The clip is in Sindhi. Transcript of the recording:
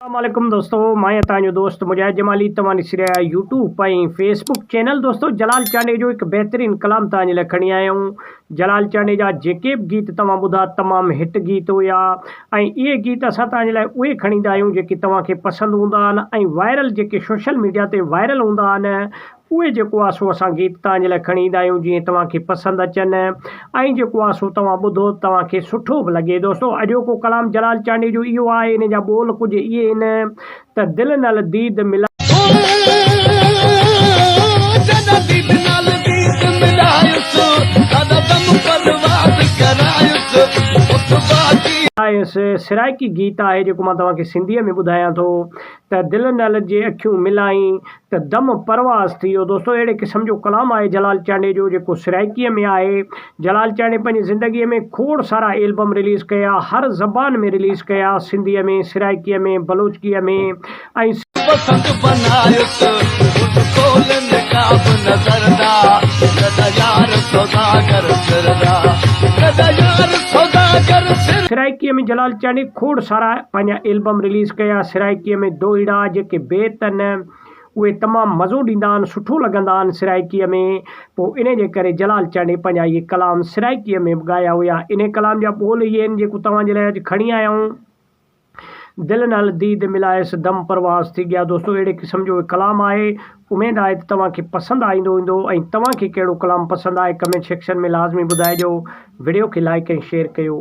اسلام عليڪم دوستو ماهيان توهان جو دوست مجاهد جمالي توهان ڏسي رهيا آهيو يوٽيوب ۽ فيسبوڪ چينل دوستو جلال چانڊئي جو هڪ بهترين ڪلام توهان جي لاء کڻي آيا آهيون جلال چانڊئي جا جيڪي به گيت توهان ٻڌا تمام هٽ گيت هيا ۽ اهي گيت اسان توهان جي لاء اهي کڻي ايندا آهيون جيڪي توهان کي پسند هوندا آهن ۽ وائرل جيڪي سوشل ميڊيا تي وائرل هوندا آهن اهي جيڪو آسو اسان گيت توهان جي لاء کڻي ايندا آهيون جيئن توهان کي پسند اچن ۽ جيڪو آسو توهان ٻڌو توهان کي سٺو به لڳي دوستو اڄوڪو ڪلام جلال چانڊيو جو اهو آهي ان جا ٻول ڪجهه اهي آهن ته دل نال ديد ملايو آهيس سرائڪي گيت آهي جيڪو مان توهان کي سنڌي ۾ ٻڌايان ٿو ته دل نال جي اکيون ملائين ته دم پرواز ٿي ويو. دوستو اهڙي قسم جو ڪلام آهي جلال چانڊيي جو جيڪو سرائيڪيء ۾ آهي. جلال چانڊيي پنهنجي زندگيء ۾ کوڙ سارا ايلبم رليز ڪيا، هر زبان ۾ رليز ڪيا، سنڌيء ۾، سرائيڪيء ۾، بلوچڪيء ۾ ۽. پسند بنايس گهٽ کول نقاب نظر ڏا لڏ يار سوداگر سر ڏا لڏ يار سوداگر سر. سرائيڪيء ۾ جلال چانڊيي کوڙ سارا. پنهنجا البم رليز ڪيا سرائڪيء ۾ دوئيڙا جيڪي بيت آهن اهي تمام مزو ڏيندا آهن سٺو لڳندا آهن سرائڪيء ۾ پوء انهي جي ڪري جلال چانڊئي پنهنجا اهي ڪلام سرائڪيء ۾ به ڳايا هيا انهي ڪلام جا ٻول اهي آهن جيڪو توهان جي لاء اڄ کڻي آيا آهيون دل نال ديد ملايس دم پرواز ٿي ڳيا دوستو اهڙي قسم جو اهي ڪلام آهي اميد آهي ته توهان کي پسند آئيندو هوندو ۽ توهان کي ڪهڙو ڪلام پسند آهي ڪمينٽ سيڪشن ۾ لازمي ٻڌائجو وڊيو کي لائڪ ۽ شيئر ڪيو.